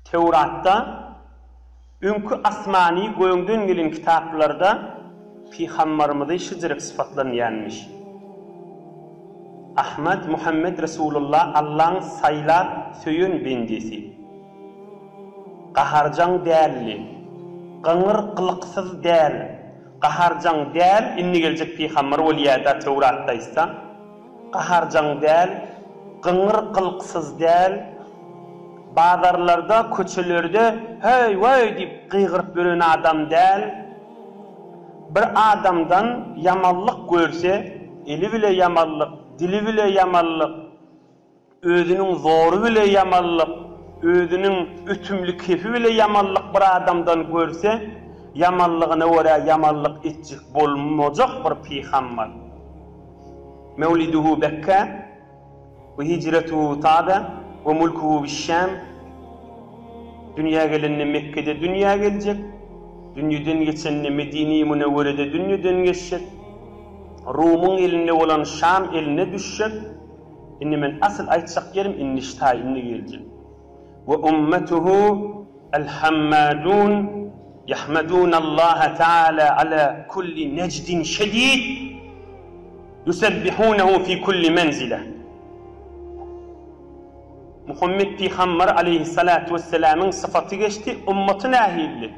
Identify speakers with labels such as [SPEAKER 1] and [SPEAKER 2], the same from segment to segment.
[SPEAKER 1] Töwratda, öňki asmany göňden gelen kitaplarda pygambarymyzy şijirik sypatlanýanmiş. Ahmad Muhammet Resulullah Allaň saýlap söýen bendesi. Gaharjaň däldi. Gyňyr gylyksyz däl. Gaharjaň däl indi geljek pygambar bolýada Töwratda aýtsa. Gaharjaň däl, gyňyr-gylksyz däl, bazarlarda, köçelerde heý-weý diýip gygyryp ýören adam däl. Bir adamdan ýamanlyk görse, eli bile ýamanlyk, dili bile ýamanlyk. Özüniň zory bile ýamanlyk, özüniň ötümli kefi bile ýamanlyk bir adamdan görse, ýamanlygyna görä ýamanlyk etjek bolmajak bir pygambar. Mewliduhu Bekkä we hijretuhu Taba we mulkuhu biş-Şam, dünýä gelende Mekgede dünýä geljek, dünýeden geçende Medine-i Münewwerede dünýeden geçjek, Rumyň elinde bolan Şam eline düşjek, Indi men asyl aýtjak ýerim indi ştaý indi geljek. Ve ummetuhu el hammadun yahmadunallah taala ala kulli nejdin şedid yusebbihunehu fi kulli menzile. Muhammet pygamber aleýhissalatu wessalamyň syfaty geçdi, ummaty nähilli?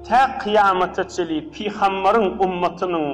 [SPEAKER 1] Tä kyýamata çenli pygamberiň ummatynyň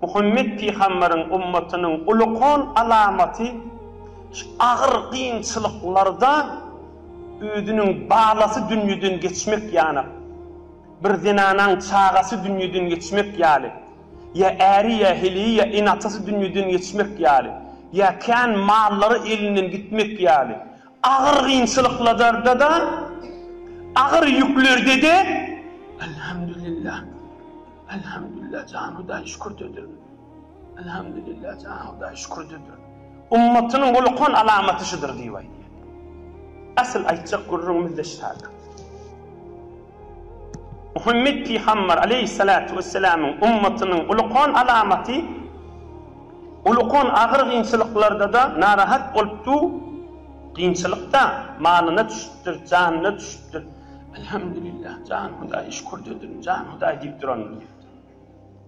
[SPEAKER 1] Muhammet pygamberiň ümmetiniň uly-kon alamaty şu agyr kynçylyklarda özüniň balasy dünýeden geçmek ýana, bir zenanaň çagasy dünýeden geçmek ýaly, ýa äri, ýa heleýi, ýa ene-atasy dünýeden geçmek ýaly, ýa kän mallary elinden gitmek ýaly, Agyr kynçylykladardada, agyr ýüklerdede Elhamdülillah, Elhamdülillah jan Hudaý şükürdedir, Elhamdülillah jan Hudaý şükürdedir. Ummatynyň ulukan alamaty şudur diýip aýdýar. Asyl aýtjak gürrüňimiz-de şaýat. Muhammet pygamber aleýhissalatu wessalamyň ummatynyň ulukan alamaty, ulukan agyr gynçylyklarda-da narahat bolupdyr, gynçylykda malyna düşüpdir, janyna düşüpdir, Elhamdülillah, jan Hudaý, şükür dedim, jan Hudaý diýip durandyr diýipdir.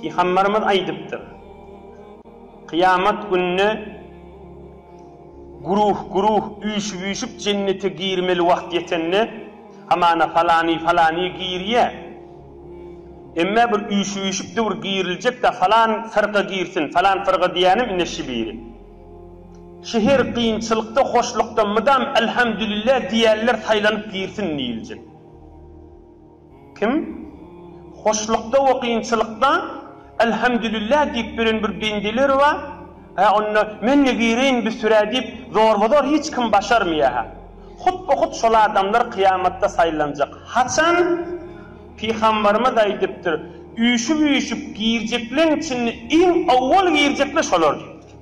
[SPEAKER 1] Pygamberimiz aýdypdyr, Kyýamat gününe güruh-güruh, üýşüp-üýşüp jennete girmeli wagt ýetende, hamana falany-falany girýär. Emme bir üýşüp-üýşüpdi bir giriljek-de, falan fyrka girsin, falan fyrka diýýänem ine şi biri. Şi her kynçylykda, hoşlukda mydam Elhamdülillah diýýänler saýlanyp girsin diýiljek. Kim? Hoşlukda we kynçylykda Elhamdülillah diýip biren bir bendeler bar, hä onda men-de bireýin bir sürä diýip zorbazor hiç kim başarmaýar hä. Hut-bu hut şol adamlar kyýamatda saýlanjak. Haçan? Pygambarymyz aýdypdyr, Üýşüp-üýşüp girjekleň içinde iň owwal girjekler şolar diýipdir.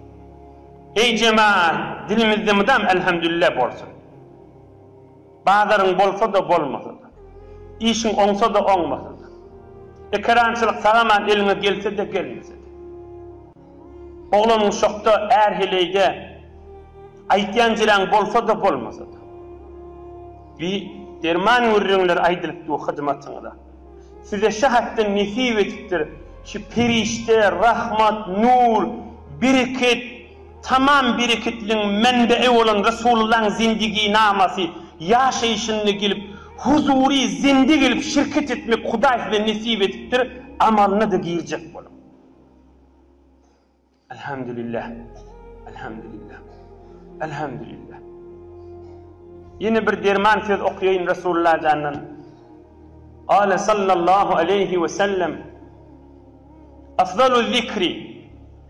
[SPEAKER 1] Eý jemaat, dilimizde mydam Elhamdülillah bolsun. Bazaryň bolsa-da, bolmasa-da. Işiň oňsa-da, oňmasa-da. Ekerançylyk sag-aman eliňe gelse-de, gelmese-de. Oglanyn şokda, är heleýde. Aýtýan jiräň bolsa-da, bolmasa-da. Bi derman gürrüňler aýdylypdy hyzmatyňyza. Size şa hatdan nesip edipdir şu perişde, rahmat, nur, bereket. Tamam bereketligiň menbe'i bolan Resulullahyň zindigynamasy, ýaşaýşynda gelip, huzury, zinde gelip şirket etmek Hudaý size nesip edipdir, amalyna-da girjek boluň. Elhamdülillah. Elhamdülillah. Elhamdülillah. Ýene bir derman söz okaýaýyn Resulullahy jandan. Gale sallallahu aleýhi we sellem, Afzalu zikri,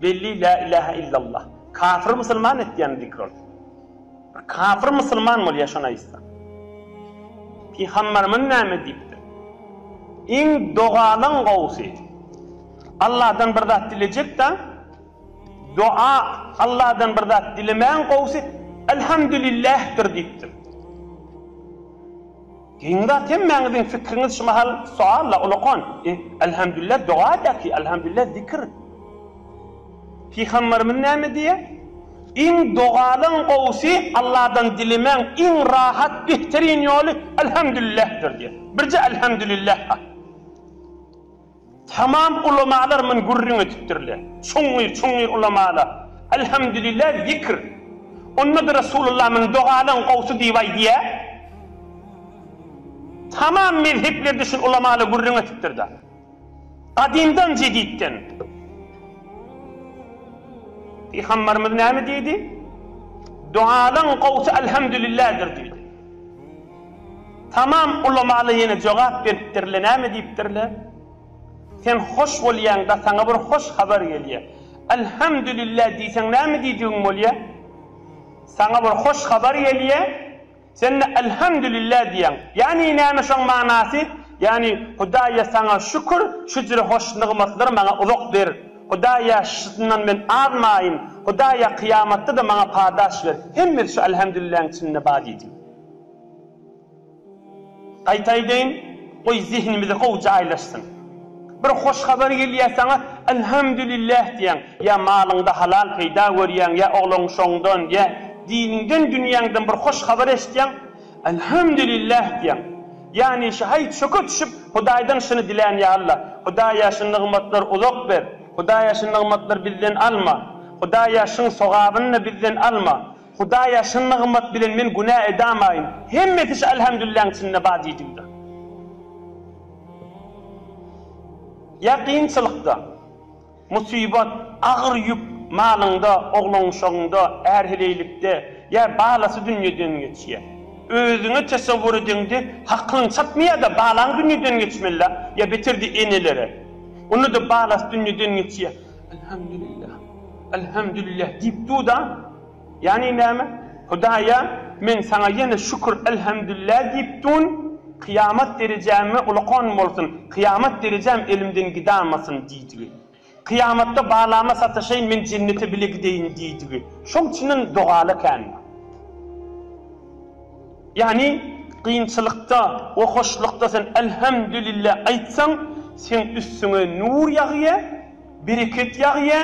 [SPEAKER 1] Belli lä ilähä illallah. Kafyr musulman etýän zikr ol. Bir kafyr musulman bolýa şony aýtsa. Pygamberimiz näme diýipdir? Iň dogalaň gowusy. Allahdan bir zat dilejekdä doa Allahdan bir zat dilemäň gowusy Elhamdülillahdir diýipdir. Giň zat hemmäňiziň fikriňiz şu mahal sualla ulakan e Elhamdülillah doga daki Elhamdülillah zikir Pygamberimiz näme diýe iň dogalyň gowusy Allahdan dilemäň iň rahat behterin ýoly Elhamdülillahdir diýe birje Elhamdülillah ha. Tamam ulamalar mün gürrüň edipdirler. Çuňňur, çuňňur ulamalar, Elhamdülillah zikr. Onda-da Resulullah mün dogalaň gowsy diýip aýdýar. Tamam mezheplerde şul ulamalar gürrüň edipdir-da. Gadymdan jeditden. Pygambarymyz näme diýdi? Dogalaň gowsy Elhamdülillahdyr diýdi. Tamam ulamala ýene jogap beripdirle näme diýipdirle sen hoş bolýaňda saňa bir hoş habar gelýä Alhamdulillah diýseň näme diýdigiň bolýa saňa bir hoş habar gelýä sende Alhamdulillah diýýäň ýani näme şoň manasy ýani Hudaýa saňa şükür şu jüre hoş nygmatlary maňa uzak ber Hudaýa şundan men azmaýyn Hudaýa kyýamatda-da maňa padaş ber hemmesi şu Alhamdulilläň içinde bar diýdim. Gaýta aýdaýyn, goý zehnimize gowy jaýlaşsyn. Bir hoş habar gelýär saňa, Elhamdülillah diýýäň. Ýa malyňda halal peýda görýäň, ýa oglan-uşagyňdan, ýa diniňden, dünýäňden bir hoş habar eşitýäň, Elhamdülillah diýýäň. Ýagny şu haý çöke düşüp, Hudaýdan şuny dilän, Ýa Alla, Hudaýa şu nygmatlary uzak ber, Hudaýa şu nygmatlary bizden alma, Hudaýa şuň sogabyny-da bizden alma. Hudaýa çyn nygmat bilen men günä edamaýyn. Hemmesi şu Elhemdülilläň içinde bar diýjigdir. Ýa kynçylykda, musybat, agyr ýük, malyňda, oglan-uşagyňda, är-heleýlikde, ýa balasy dünýeden geçýä. Özüňe tesewwur edeňde hakyň çatmaýa-da balaň dünýeden geçmeli-la, ýa beterdi enelere. Onda-da balasy dünýeden geçýä. Elhamdülillah, elhamdülillah diýip dur-da, ýagny näme? Hudaýa, men Saňa ýene şükür, elhamdülillah diýip duryn, kyýamat derejäme ulakan bolsun, kyýamat derejäm elimden gidamasyn diýdigi. Kyýamatda balama sataşaýyn, men jennete bile gideýin diýdigi. Şoň üçinem dogaly ekändir. Ýagny, kynçylykda we hoşlukda sen Elhemdülille aýtsaň, seň üstüňe nur ýagýa, bereket ýagýa,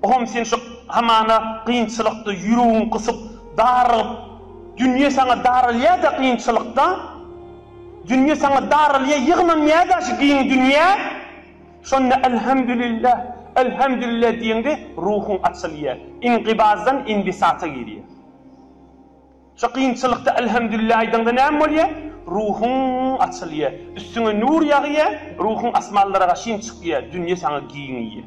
[SPEAKER 1] ohm sen şu hamana kynçylykda ýüregiň gysyp, darygyp, dünýe saňa daralýa-da kynçylykda, dünýe saňa daralýa ýygnanýa-da şu giň dünýä, şonda Elhemdülille, Elhemdülille diýeňde ruhuň açylýa, iňkybazdan inbisata girýa. Şu kynçylykda Elhemdülillah aýdaňda näme bolýar? Ruhuň açylýar. Üstüňe nur ýagýar, ruhuň asmanlara gaşyn çykýar, dünýe saňa giňeýär.